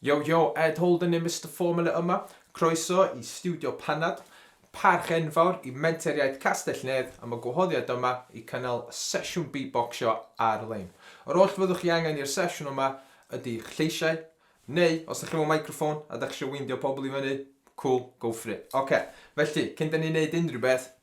Yo yo, Ed Holden yw Mister Formula yma, croeso i Stiwdio Panad. Parch enfawr i Menter Iaith Castell-nedd am y gwahoddiad yma i cynnal sesiwn Beatboxio ar-lein. Yr oll fyddwch chi angen i'r sesiwn yma ydi'ch lleisiau, neu os dych chi mewn microffon a dych chi isio weindio pobl i fyny, cŵl, go for it. Ocê, felly, cyn 'da ni 'neud unrhyw beth,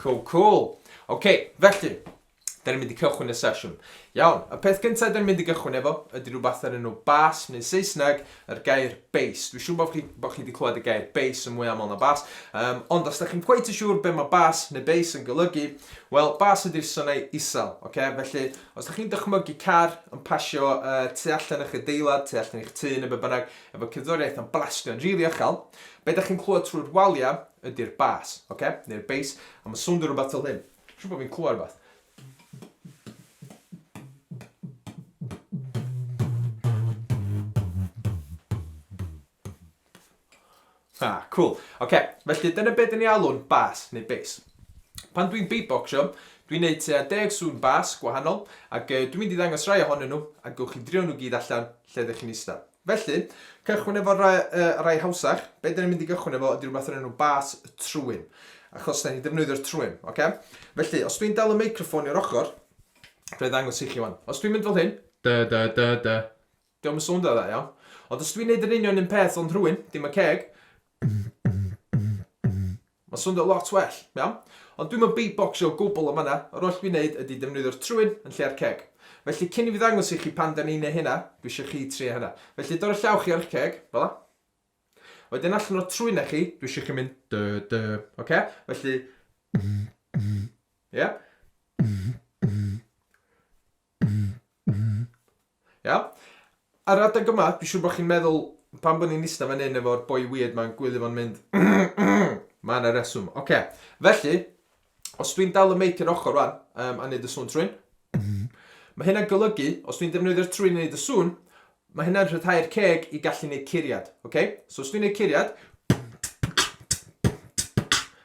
Cool, cool. OK, felly, da ni'n mynd i cychwyn y sesiwn. Iawn, y peth gyntaf da ni'n mynd i gychwyn efo ydy rhywbeth ar enw bas, neu Saesneg, yr gair bass. Dwi'n siŵr bod chi, bo chi wedi clywed y gair bass yn mwy aml na bass, um, ond os da chi'n cweith yn siŵr beth mae bass neu bass yn golygu, wel, bass ydy'r synau isel, okay? felly Os ydych chi'n dychmygu car yn pasio uh, tu allan eich adeilad, tu allan eich tŷ neu be bynnag, efo cerddoriaeth yn blastio yn rili uchel, be ydych chi'n clywed trwy'r waliau ydy'r bas, okay? neu'r bass, a mae'n swndio rhywbeth fel hyn. Siwr bod fi'n clywed rhywbeth. Ah, cool. Oce, felly dyna be dyn ni alw'n bas neu bass. Pan dwi'n beatboxio, dwi'n neud tua deg sŵn bas gwahanol, ac yy, dwi'n mynd i ddangos rai ohonyn nhw, a gewch chi drio nhw gyd allan lle ydych chi'n ista. Felly, cychwyn efo rai, yy, rai hawsach, be dyn ni'n mynd i gychwyn efo ydy rhywbeth o'r enw bas trwyn, achos da ni'n defnyddio'r trwyn, oce? Felly, os dwi'n dal y meicroffon i'r ochr, fe ddangos i chi wan. Os dwi'n mynd fel hyn, da da da da, Dio'm yn sowndio dda iawn. Ond os dwi'n neud yr union un peth ond rhwyn, dim y ceg, mae'n sowndio lot well, iawn? Ond dwi'm yn beatboxio o gwbl yn fan'na, yr oll dwi'n neud ydi defnyddio'r trwyn yn lle'r ceg. Felly cyn i fi ddangos i chi pan 'dan ni'n neu' hynna, dwi isio chi trio hynna. Felly dorri llaw chi ar 'ych ceg, fel 'a. Wedyn allan o'r trwynau chi, dwi isio chi mynd dy dy, oce? Felly, ie? Iawn? Ar adeg yma, dwi'n siŵr bod chi'n meddwl, pam bod ni'n ista fan hyn efo'r boi weird ma'n gwylio fo'n mynd Mae yna reswm. Oce, okay. felly, os dwi'n dal y meic i'r ochr rwan, um, a wneud y sŵn trwyn, mae hynna'n golygu, os dwi'n defnyddio'r trwyn i wneud y sŵn, Mae hynna'n rhyddhau'r ceg i gallu neud curiad, ok? So os dwi'n neud curiad,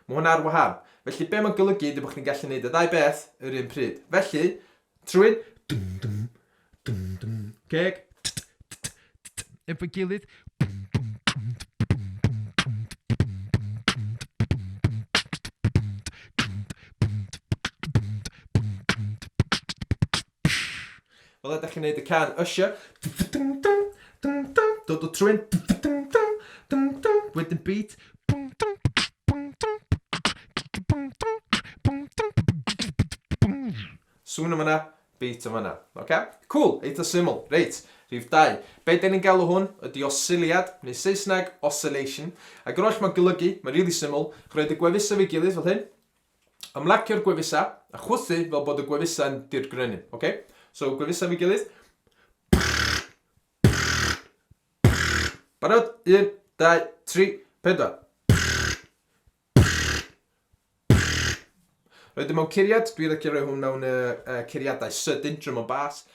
mae hwnna ar wahân. Felly be mae'n golygu ydy bod chdi'n gallu neud y ddau beth yr un pryd. Felly, trwy'n ceg, efo'i gilydd, Fel ydach chi'n neud y can Usher. Dod o trwyn. Wedyn beat. Sŵn yn fanna, beat yn fanna. Oce? Cŵl, eitha syml. Reit, rhif dau. Be' 'dan ni'n galw hwn ydi osiliad, neu Saesneg, oscillation. Ag yr oll ma'n golygu, ma'n rili syml, rhoid y gwefusau efo'i gilydd fel hyn, Ymlacio'r gwefusau a chwythu fel bod y gwefusau'n dirgrynnu. Okay? So, gwefusau fi gilydd. Barod? Un, dau, tri, pedwar. Roedd dim ond curiad, dwi'n licio rhoi hwn mewn uh, uh, curiadau sydyn, drum and bass.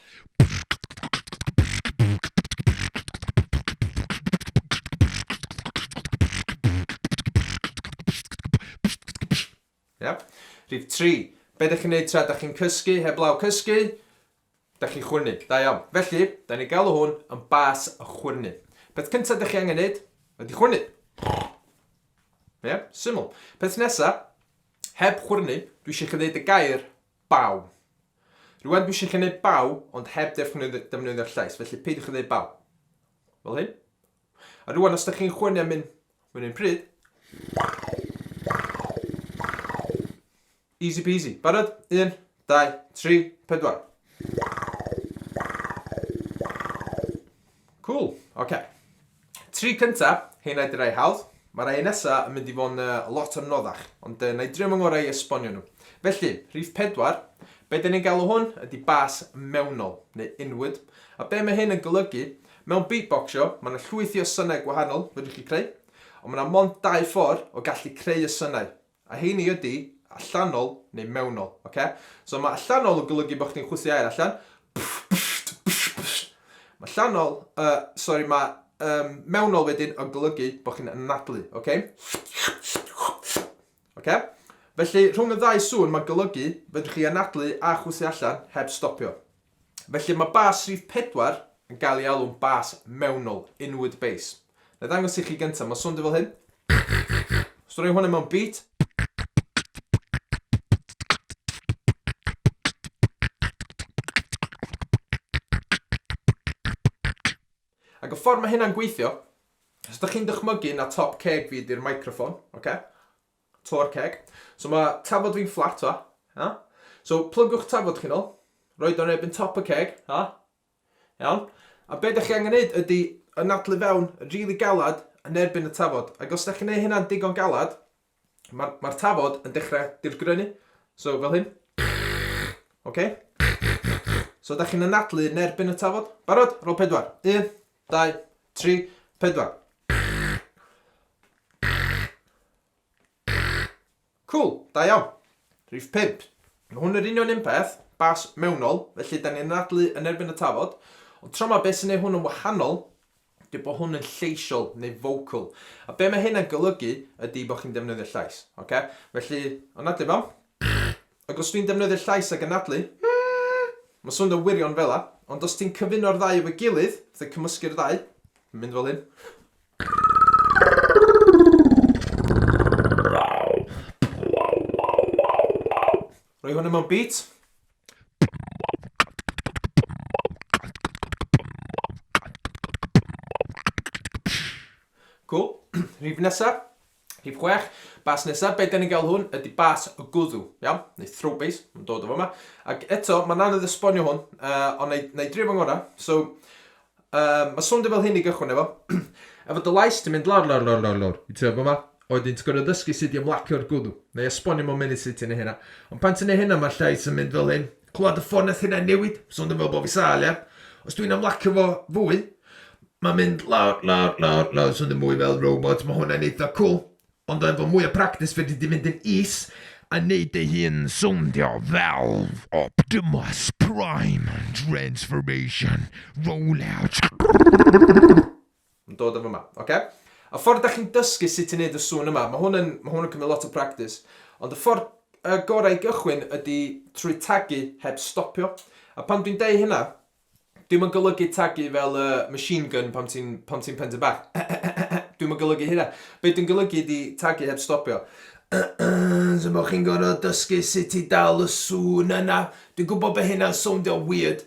Yep. Rhif 3. Be ydych chi'n gwneud tra ydych chi'n cysgu, heblaw cysgu? Da chi'n chwyrnu, da iawn. Felly, da ni'n galw hwn yn bas y chwyrnu. Peth cyntaf ydych chi angen neud ydy chwyrnu. Ie, yeah, syml. Peth nesaf, heb chwyrnu, dwi eisiau chi ddeud y gair Baw. Rŵan dwi eisiau chi wneud baw, ond heb ddefnyddio'r llais, felly peidiwch â dweud baw. Fel hyn. A rŵan, os ydych chi'n chwynnu am un, mewn un pryd. Easy peasy. Barod? Un, dau, tri, pedwar. Cŵl, ocê. Tri cynta, rheina ydi rhai hawdd. Mae rhai nesa yn mynd i fod yn lot anoddach, ond na i drio fy ngorau i esbonio nhw. Felly, rhif pedwar, be da ni'n galw hwn ydi bas mewnol, neu inward, a be mae hyn yn golygu, mewn beatboxio, mae yna llwythi o synau gwahanol fedrwch chi creu, ond mae yna mond dau ffordd o gallu creu y synau, A heini ydi allanol neu mewnol, oce? So mae allanol yn golygu bod chdi'n chwythu aer allan. Mae allanol, uh, sorry, mae um, mewnol wedyn yn golygu bod chi'n anadlu, oce? Oce? Felly, rhwng y ddau sŵn, mae'n golygu fedrwch chi anadlu a chwythu allan heb stopio. Felly mae bas rhif pedwar yn cael ei alw'n bas mewnol, inward bass. Nai ddangos i chi gynta, mae'n swndio fel hyn. Os dwi'n rhoi hwnna mewn beat. Ac y ffordd mae hynna'n gweithio, os ydych chi'n dychmygu na top ceg fi ydy'r microphone, ocê? To'r ceg. So mae tafod fi'n fflat fa. Ha? So plygwch tafod chi'n ôl. Roed o'n erbyn top y ceg. Ha? Iawn. A be da chi angen neud ydy yn adlu fewn really galad yn erbyn y tafod. Ac os da chi'n neud hynna'n digon galad, mae'r ma tafod yn dechrau dirgrynu. So fel hyn. Okay? So da chi'n anadlu yn erbyn y tafod. Barod? Rol pedwar. Un, Dau, tri, pedwar. Cŵl, da iawn. Rhif pump. Mae hwn yr union un peth, bas mewnol, felly da ni'n anadlu yn erbyn y tafod, ond tro ma beth sy'n ei hwn yn wahanol ydy bod hwn yn lleisiol neu vocal. A be mae hynna'n golygu ydy bod chi'n defnyddio llais. Oce? Felly, anadlu fo. Ac os dwi'n defnyddio'r llais a gynadlu, Mmm! Mae'n swnio wirion fela, ond os ti'n cyfuno'r ddau efo'i gilydd, fatha cymysgu'r ddau, mae'n mynd fel hyn. Rhoi hwnna mewn beat. Cŵl. Rhif nesa. Rhif chwech, bas nesaf, be dan ni'n gael hwn ydy bas o gwddw, iawn? Neu throw base, mae'n dod o fama. Ac eto, mae'n anodd esbonio hwn, uh, ond na i, na i drio fy ngorau. So, um, mae swndio fel hyn i gychwyn efo. efo dy lais, ti'n mynd lawr, lawr, lawr, lawr, lawr. I trio fama. Oedden ti'n gorfod ddysgu sut i ymlacio'r gwddw. Neu esbonio mewn munud sut ti'n ei hynna. Ond pan ti'n ei hynna, mae llais yn mynd fel hyn. Clywed y ffôn nath hynna newid, so o'n i'n meddwl bo' fi sâl ia. Os dwi'n ymlacio fo fwy, ma'n mynd lawr, lawr, lawr, lawr, so o'n i'n mwy fel robot, ma' hwnna'n eitha cwl. Ond efo mwy o practis fedri di fynd yn is a neud dy hun sowndio fel Optimus Prime, Transformation, Rollout. Yn dod o fyma, oce? A ffordd da chi'n dysgu sut i wneud y sŵn yma, mae hwn yn, mae hwn yn cymryd lot o practis. Ond y ffordd uh, gorau i gychwyn ydy trwy tagu heb stopio. A pan dwi'n deud hynna, dwi'n yn golygu tagu fel uh, machine gun pan ti'n ti pentu bach. dwi'n yn golygu hynna. Be dwi'n golygu ydy tagu heb stopio. so mae chi'n gorfod dysgu sut i dal y sŵn yna. Dwi'n gwybod bod hynna'n sowndio weird,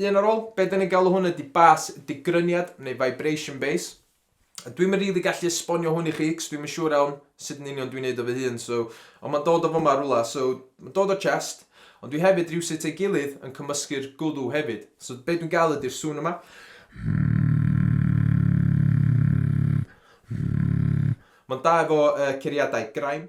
Un ar ôl, be' 'dan ni'n galw hwn ydi bas digryniad neu vibration base. Dwi'm yn rili gallu esbonio hwn i chi 'c'os dwi'm yn siŵr iawn sut yn union dwi'n neud o fy hun so ond ma'n dod o fyma rwla so ma'n dod o chest ond dwi hefyd rywsut ei gilydd yn cymysgu'r gwddw hefyd so be' dwi'n ga'l ydi'r sŵn yma ma'n da efo yy curiadau graim.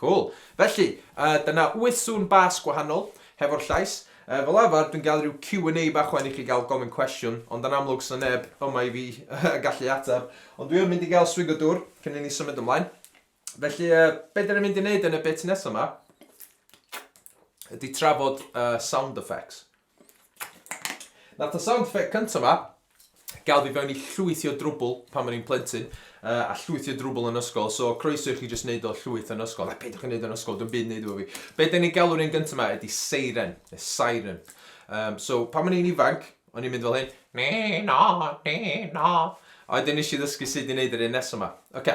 Cŵl. Felly, yy, dyna wyth sŵn bas gwahanol, hefo'r llais. Yy, fel arfer, dwi'n gael rhyw Q and A bach ŵan i chi gael gofyn cwestiwn, ond yn amlwg sna neb yma i fi yy gallu ateb. Ond dwi yn mynd i gael swig o dwr cyn i ni symud ymlaen. Felly, yy, be' 'dan ni'n mynd i neud yn y bit nesa 'ma ydi trafod yy sound effects. Nath y sound effect cynta 'ma ga'l fi fewn i llwyth o drwbwl pan o'n i'n plentyn yy a llwyth o drwbwl yn ysgol so croeso i chi jyst neud o llwyth yn ysgol a peidiwch â neud o yn ysgol dim byd i neud efo fi. Be' 'dan ni'n galw'r un gynta 'ma ydi seiren ne' siren yym so pan o'n i'n ifanc o'n i'n mynd fel hyn Nî na nî na a wedyn nesh i ddysgu sud i neud yr un nesa 'ma. Ocê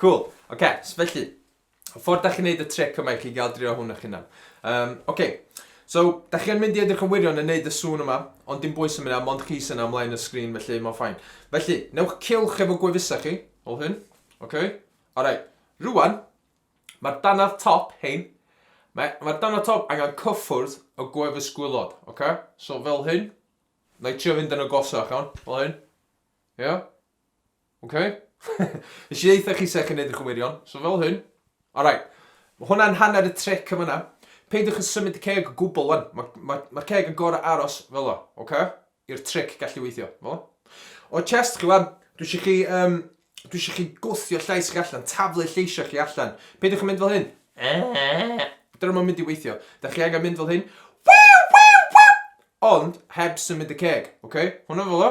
Cŵl, ocê, so felly, y ffordd dach chi'n neud y tric yma i chi gael drio hwn eich hunan. Yym, ocê, so, dach chi yn mynd i edrych yn wirion yn neud y sŵn yma, ond dim bwys am hynna, mond chi sy'n am mlaen y sgrin, felly mae'n ffain. Felly, newch cylch efo gwefusau chi, fel hyn, ocê? Alright, rŵan, mae'r dannedd top, hein, mae, mae'r dannedd top angen cyffwrdd y gwefus gwylod, ocê? So, fel hyn, na i trio fynd yn agosach, iawn, fel hyn, ie? Ok? Nes i ddeitha chi sech chi'n neud y cywirion, so fel hyn. Alright. Mae hwnna'n hanner y tric yn fanna. Peidiwch yn symud y ceg o gwbl wan. Mae'r ma, ma ceg yn gorau aros fel o, ok? I'r tric gallu weithio, fel O chest chi wan, dwi eisiau chi, um, dwi eisiau chi gwthio llais chi allan, taflu lleisiau chi allan. Peidiwch yn mynd fel hyn. Dyna mae'n mynd i weithio. Da chi angen mynd fel hyn. Ond heb symud y ceg, ok? Hwna fel o.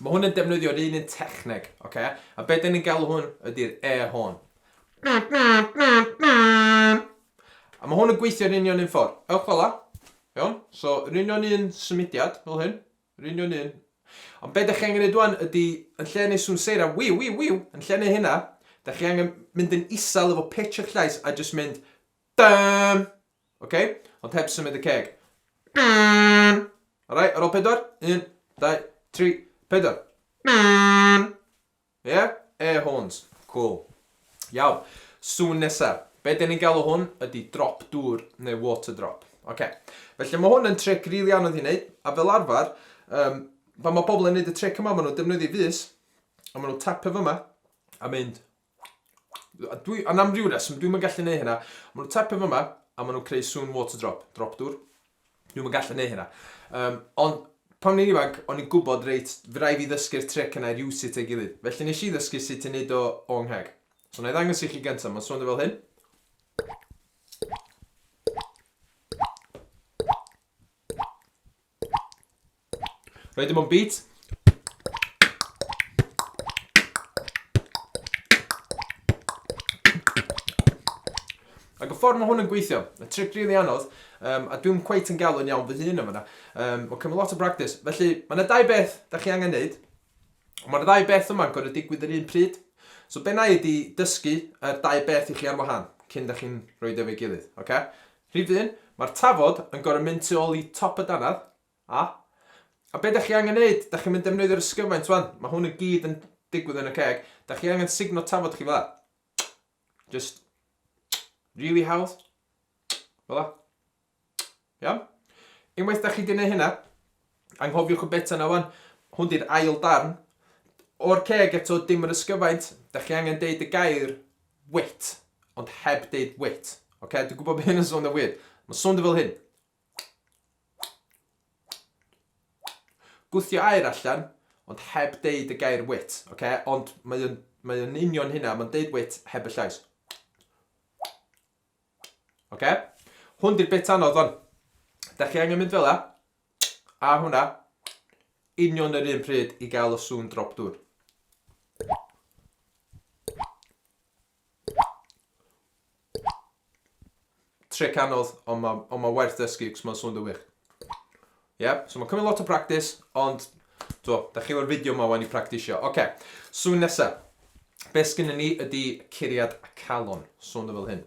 Mae hwn yn defnyddio'r un un techneg, oce? A be dan ni'n galw hwn ydy'r air horn. A mae hwn yn gweithio'r union un ffordd. Ewch fel la. Iawn? So, yr union un symudiad, fel hyn. Yr union un. Ond be da chi angen ei dwan ydy, yn lle yn ei swn seira, wiw, wiw, wiw, yn lle yn ei hynna, da chi angen mynd yn isel efo pitch eich llais a jyst mynd, dam! Ok? Ond heb symud y ceg. Alright, ar ôl pedwar. Un, dau, tri, pedwar. Ie? Yeah? Air horns. Cool. Iawn. Sŵn nesa. Be dyn ni'n galw hwn ydy drop dŵr neu water drop. Ok. Felly mae hwn yn tric rili really anodd i wneud. A fel arfer, um, pan mae pobl yn gwneud y tric yma, maen nhw'n defnyddio fus. A maen nhw'n tapio fyma. A mynd Dwi, a nam rhyw reswm, dwi'n mynd gallu neud hynna. Mae nhw'n tapio fyma, a maen nhw'n creu sŵn water drop, drop dŵr. Dwi'n mynd gallu neud hynna. Um, ond pan ni'n ifanc, o'n i'n gwybod reit, fy rai fi ddysgu'r tric yna i'r iwsi teg gilydd. Felly nes i ddysgu sut i wneud o o ngheg. So na i ddangos i chi gyntaf, mae'n swnio fel hyn. Rhaid dim ond beat. Ac y ffordd mae hwn yn gweithio, y trick rili really anodd, um, a dwi'n cweit yn gael yn iawn fy hun yma. Um, mae'n cymryd lot o bractis. Felly, mae yna dau beth da chi angen neud. Mae'r dau beth yma'n gorau digwydd yr un pryd. So, be na i ydi dysgu y dau beth i chi ar wahân cyn da chi'n rhoi efo'i gilydd. Okay? Rhif un, Mae'r tafod yn gorfod mynd tu ôl i top y dannedd, a. A be dach chi angen neud, dach chi'n mynd defnyddio'r ysgyfaint wan, mae hwn yn gyd yn digwydd yn y ceg, dach chi angen sugno tafod chi fela. Just really hawdd. Fela. Iawn? Unwaith dach chi di neud hynna, Anghofiwch y beta 'na wan. Hwn 'di'r ail darn. O'r ceg eto, dim yr ysgyfaint. Da chi angen deud y gair wit, ond heb deud wit. Oce, dwi'n gwybod bod hyn yn swnio weird. Mae'n swnio fel hyn. Gwthio air allan, ond heb deud y gair wit. Oce, ond mae'n mae yn union hynna, mae'n deud wit heb y llais. Oce? Hwn di'r bit anodd o'n. Da chi angen mynd fel la. A hwnna, union yr un pryd i gael y sŵn drop dŵr. Trick anodd, ond mae on ma werth dysgu, cos mae'n sŵn dywych. Yeah? So mae'n cymryd lot o practis, ond do, da chi efo'r fideo yma wan i practisio. Oce, okay. sŵn nesaf. Be sgynny ni ydy curiad calon. Sŵn o fel hyn.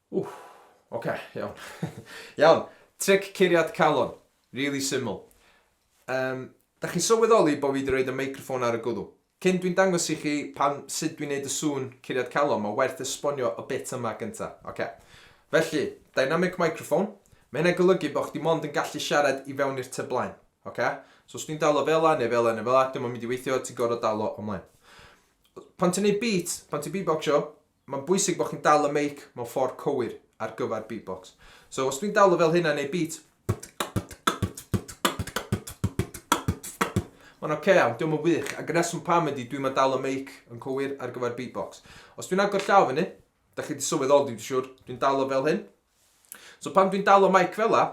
Ww, oce, iawn. Iawn, tric curiad calon. Rili syml. Yym, dach chi'n sylweddoli bo' fi 'di roid y meicroffon ar y gwddw? Cyn dwi'n dangos i chi pan, sut dwi'n neud y sŵn curiad calon, ma' werth esbonio y bit yma gynta. Oce. Felly, dynamic microphone, ma' hynna'n golygu bo' chdi mond yn gallu siarad i fewn i'r tŷ blaen. Oce? So os dwi'n dalo fela neu fela neu fela, 'di o'm yn mynd i weithio, ti'n gor'o' dalo o mlaen. Pan ti'n neud beat, pan ti'n beatboxio, Mae'n bwysig bod chi'n dal y meic mewn ffordd cywir ar gyfer beatbox. So os dwi'n dal o fel hynna neu beat Mae'n ok iawn, dio'm yn wych, ac y reswm pam ydi dwi'm yn dal y meic yn cywir ar gyfer beatbox. Os dwi'n agor llaw fyny, da chi wedi sylweddoli dwi'n siŵr, dwi'n dal o fel hyn. So pan dwi'n dal o meic fel la,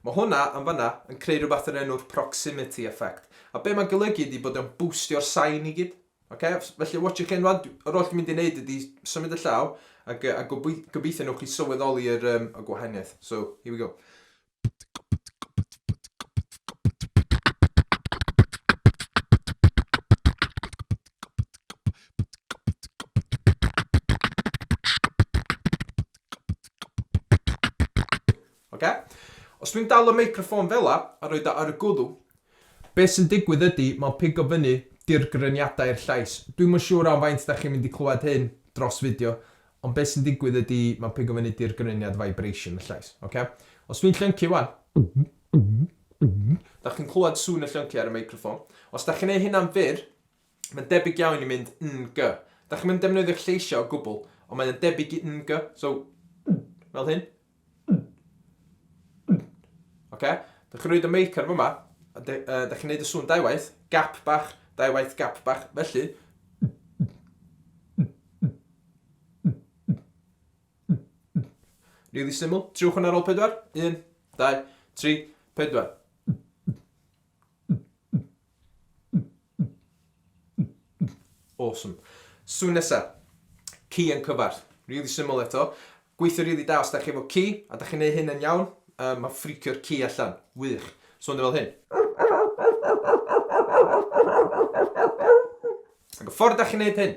mae hwnna yn fanna yn creu rhywbeth yn enw'r proximity effect. A be mae'n golygu ydi bod o'n bwstio'r sain i gyd. Ok, felly watch your cyn rwan, yr oll dwi'n mynd i wneud ydi symud y llaw, ac, a gobeithio newch chi sylweddoli yr, um, y gwahaniaeth. So, here we go. Ocê? Os dwi'n dal y meicroffôn fela a rhoid o ar y gwddw, be' sy'n digwydd ydi ma'n pigo fyny dirgryniadau i'r llais. Dwi'm yn siŵr am faint 'dach chi'n mynd i clywed hyn dros fideo, ond be' sy'n digwydd ydi ma'n pigo fyny dirgryniad vibration y llais. Ocê? Os dwi'n llyncu 'wan, 'dach chi'n clywed sŵn y llyncu ar y meicroffôn. Os 'dach chi'n neu' hynna'n fyr, Mae'n debyg iawn i mynd ng. Da chi'm yn defnyddio'r lleisiau o gwbl, ond mae o'n debyg i ng, so fel hyn. Oce? Da chi'n rhoi y meic ar fyma, a de, uh, da chi'n neud y sŵn dau waith, gap bach, dau waith gap bach, felly. Really syml. Triwch hwnna ar ôl pedwar. Un, dau, tri, pedwar. Awesome. Sŵn nesa. Ci yn cyfarth. Rili syml eto. Gweithio rili da os dach chi efo ci, a dach chi'n neu hyn yn iawn, yy ma'n ffricio'r ci allan. Wych. Sŵn o fel hyn. Ag y ffordd dach chi'n neud hyn.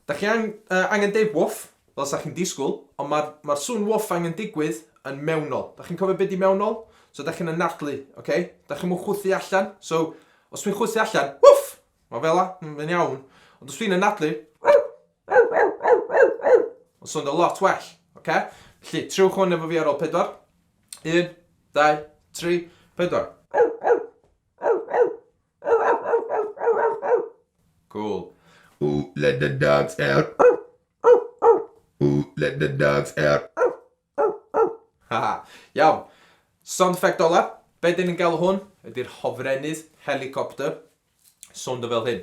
Dach chi ang- yy angen deud woof, fel 'sa chi'n disgwyl, ond ma'r ma'r sŵn woof angen digwydd yn mewnol. Dach chi'n cofio be' 'di mewnol? So dach chi'n anadlu, ocê? Dach chi'm yn chwythu allan. So, os dwi'n chwythu allan, woof! Ma' fel 'a, m- mae'n iawn. Ond os dwi'n anadlu, ma'n swnio lot well, ocê? Felly, triwch hwn efo fi ar ôl pedwar. Un, dau, tri, pedwar. Cool. Ooh, let the dogs out. Ooh, let the dogs out. Haha, iawn. Sound effect ola, be dyn ni'n galw hwn, ydy'r hofrennydd helicopter. Sound o fel hyn.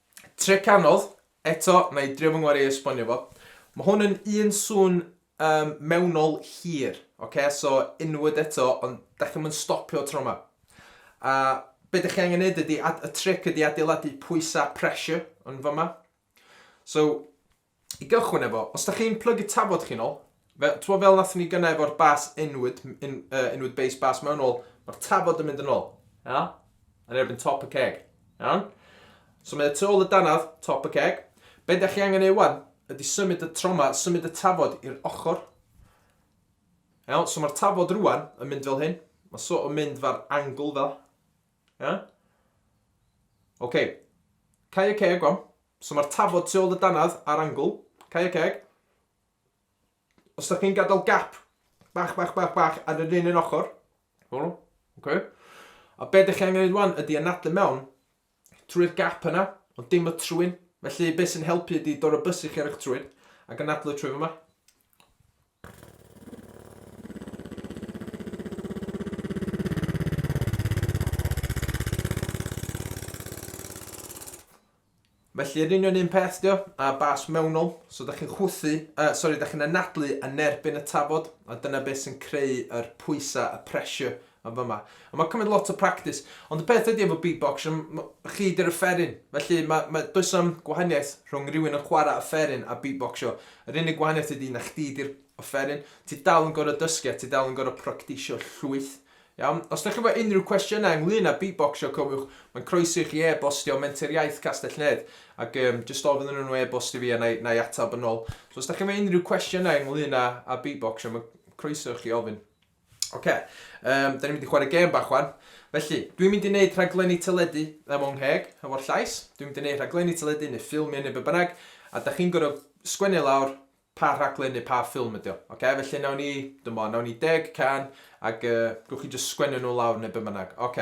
Tric anodd, eto, na i drio fy ngwar i esbonio fo. Mae hwn yn un sŵn um, mewnol hir, okay? so inward eto, ond da chi'n mynd stopio tro yma. A be da chi angen neud ydy, y tric ydy adeiladu pwysau pressure yn fyma. So, I gychwyn efo, os da chi'n plygu tafod chi'n ol, fe, twa, fel nath ni gyna efo'r bas inwyd, in, uh, inwyd base bas mewn ol, mae'r tafod yn mynd yn ol. Ia? Yn erbyn top y ceg. Iawn? So mae y tu ôl y danaf, top y ceg. Be da chi angen ei wan, ydy symud y troma, symud y tafod i'r ochr. Iawn? So mae'r tafod rwan yn mynd fel hyn. Mae so yn mynd fa'r angle fel. Ia? Oce. Okay. Cau y ceg wan. So mae'r tafod tu ôl y dannedd ar angl. Cau y ceg. Os da chi'n gadael gap bach, bach, bach, bach ar yr un un ochr. O, oce. Okay. A be ydych chi angen ei wan ydy anadlu mewn trwy'r gap yna, ond dim y trwyn. Felly beth sy'n helpu ydy dod o bus i chi ar eich trwyn ac anadlu trwy fyma. Felly yr union un peth dio, a bas mewnol, so da chi'n chwthu, uh, sori, da chi'n anadlu yn erbyn y tafod, a dyna beth sy'n creu yr pwysau, y pressure Yn fama. A mae'n cymryd lot o practis. Ond y peth ydy efo beatbox, chi ydy'r offeryn. Felly, mae, mae, does am gwahaniaeth rhwng rhywun yn chwarae offeryn a beatboxio. Yr unig gwahaniaeth ydy na chdi ydy'r offeryn. Ti dal yn gorau dysgu a ti dal yn gorau practisio llwyth. Iawn? Os ydych chi efo unrhyw cwestiynau ynglyn â beatboxio, cofiwch, mae'n croeso i chi e-bostio Menter Iaith Castell-nedd ac um, jyst ofyn yn nhw e-bost i fi a na i, na i atab yn ôl. So, os ydych chi efo unrhyw cwestiynau ynglyn â, â beatboxio, mae'n croeso i chi ofyn. Ok, um, da ni'n mynd i chwarae gêm bach wan. Felly, dwi'n mynd i wneud rhaglenni teledu am o'n ngheg, hefo'r llais. Dwi'n mynd i wneud rhaglenni teledu neu ffilmiau neu be bynnag. A da chi'n gorfod sgwennu lawr pa rhaglen neu pa ffilm ydi o. Ok, felly nawn ni, dyma, nawn ni deg can, ac uh, gwch chi just sgwennu nhw lawr neu be bynnag. Ok.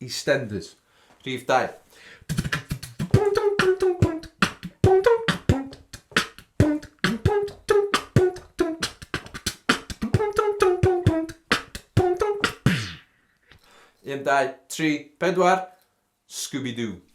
EastEnders, Rhif dau. Un, dau, tri, pedwar, Scooby-Doo.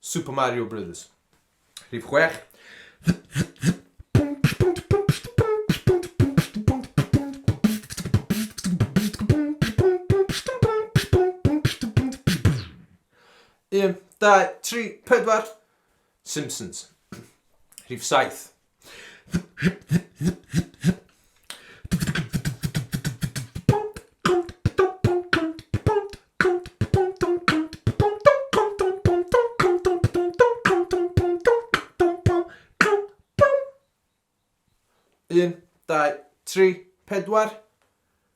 Super Mario Brothers. Rhif chwech. Un, dau, tri, pedwar. Simpsons. Rhif saith. Un, dau, tri, pedwar.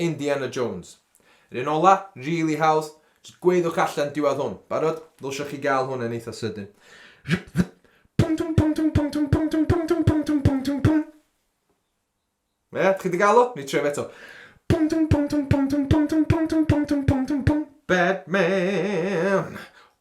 Indiana Jones. Yr un ola, rili hawdd. Jyst gweiddiwch allan diwadd hwn. Barod? Ddylsioch chi gael hwn yn eitha sydyn. Ie? Chi 'di gael o? Ni troi fe eto. Batman!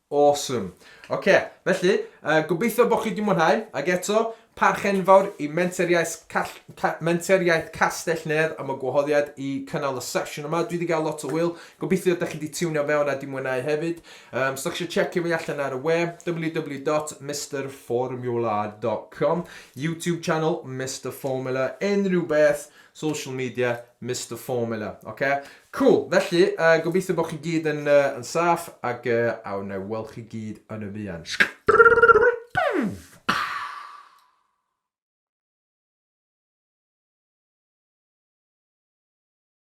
Awesome. Oce, felly, yy, gobeithio bod chi 'di mwynhau, ac eto, parch enfawr i Menteriaeth Call- Ca- Menteriaeth Castell-nedd am y gwahoddiad i cynnal y sesiwn yma. Dwi 'di gael lot o hwyl, gobeithio dych chi 'di tiwnio fewn a 'di mwynhau hefyd. Um, os ydych chi eisiau checio fi allan ar y we, www.misterformula.com, YouTube channel Mr Formula, unrhyw beth, Social media, Mister Formula, oce? Cŵl, felly, yy, gobeithio bod chi gyd yn, yy, yn saff, ac, yy, a wna i weld chi gyd yn y fuan.